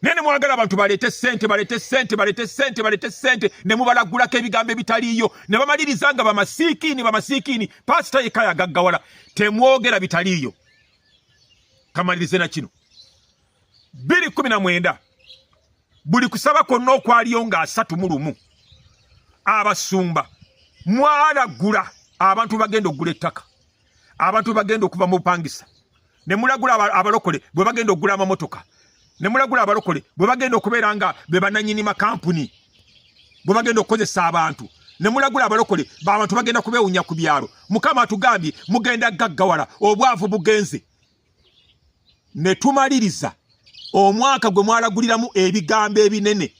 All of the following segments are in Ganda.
naye ne mwagala abantu baleete ssente baleete ssente baleete ssente baleete ssente ne mubalaggulako ebigambo ebitaliiyo ne bamaliriza nga bamasiikiini bamasiikiini paasita yekka yagaggawala temwogera bitaliiyo kamalirize na kino bbiri kumi na mwenda buli kusaba kwonna okwaliyo nga asatu mu lumu abasumba mwalaggula abantu bagenda okugula ettaka abantu bagenda okuva mu bupangisa ne mulagula abalokole bwe bagenda okugula amamotoka ne mulagula abalokole bwe bagenda okubeera nga be bananyini makampuni bwe bagenda okukozesa abantu ne mulagula abalokole babantu bagenda kubewunya ku byalo mukama atugambye mugenda gaggawala obwavu bugenze ne tumaliriza omwaka gwe mwalaguliramu ebigambo ebinene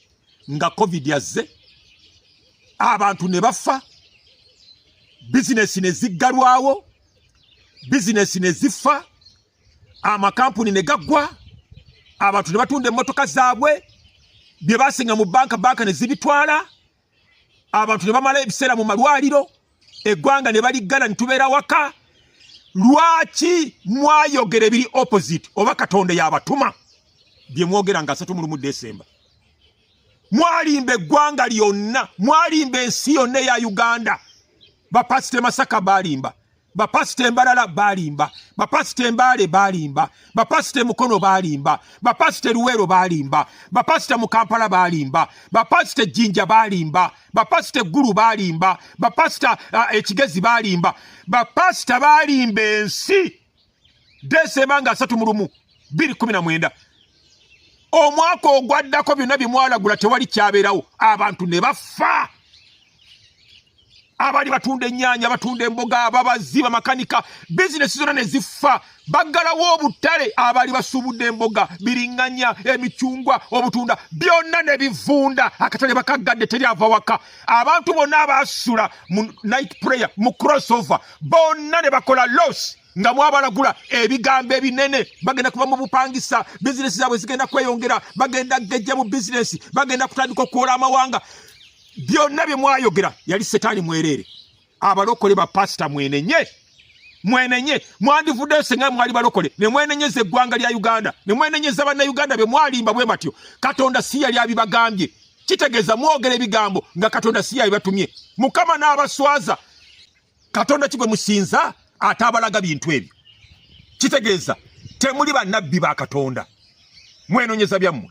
nga covid azze abantu ne bafa bizinesi ne ziggalwawo bizinesi ne zifa amakampuni ne gaggwa abantu ne batunda emmotoka zaabwe bye basinga mu banka banka ne zibitwala abantu ne bamala ebiseera mu malwaliro eggwanga ne baliggana ne tubeera waka lwaki mwayogera ebiri opposite oba katonda yabatuma bye mwogera nga asatu mulumu desemba mwalimba eggwanga lyonna mwalimba ensi yonna eya uganda bapasite masaka balimba bapasita embalala balimba bapasita embaale balimba bapasita emukono balimba bapasita eruweero balimba bapasita mu kampala balimba bapasita ejjinja balimba bapasita eggulu balimba bapasita ekigezi balimba bapasita balimba ensi desemba nga asatu mulumu biri kumi na mwenda omwaka ogwaddako byonna bye mwalagula tewali kyabeerawo abantu ne bafa abali batunda ennyanya batunda emboga ababazi bamakanika bizinesi zonna ne zifa baggalawo obutale abali basuubudde emboga biringanya emicungwa obutunda byonna ne bivunda akatale bakaggadde teri ava waka abantu bonna abaasula mu night prayer mu crossover bonna ne bakola losi nga mwabalagula ebigambo ebinene bagenda kuba mu bupangisa bizinesi zaabwe zigenda kweyongera bagenda gejja mu bizinesi bagenda kutandika okuwola amawanga byonna bye mwayogera yali setaani mwereere abalokole bapasita mwenenye mwenenye mwandivuddeyo senga mwali balokole ne mwenenyeza eggwanga lya uganda ne mwenenyeza bannauganda be mwalimba bwe batyo katonda si yali abibagambye kitegeeza mwogera ebigambo nga katonda si yabibatumye mukama n'abaswaza katonda ki gwe musinza ate abalaga bintu ebyo kitegeeza temuli bannabbi ba katonda mwenonyeza byammwe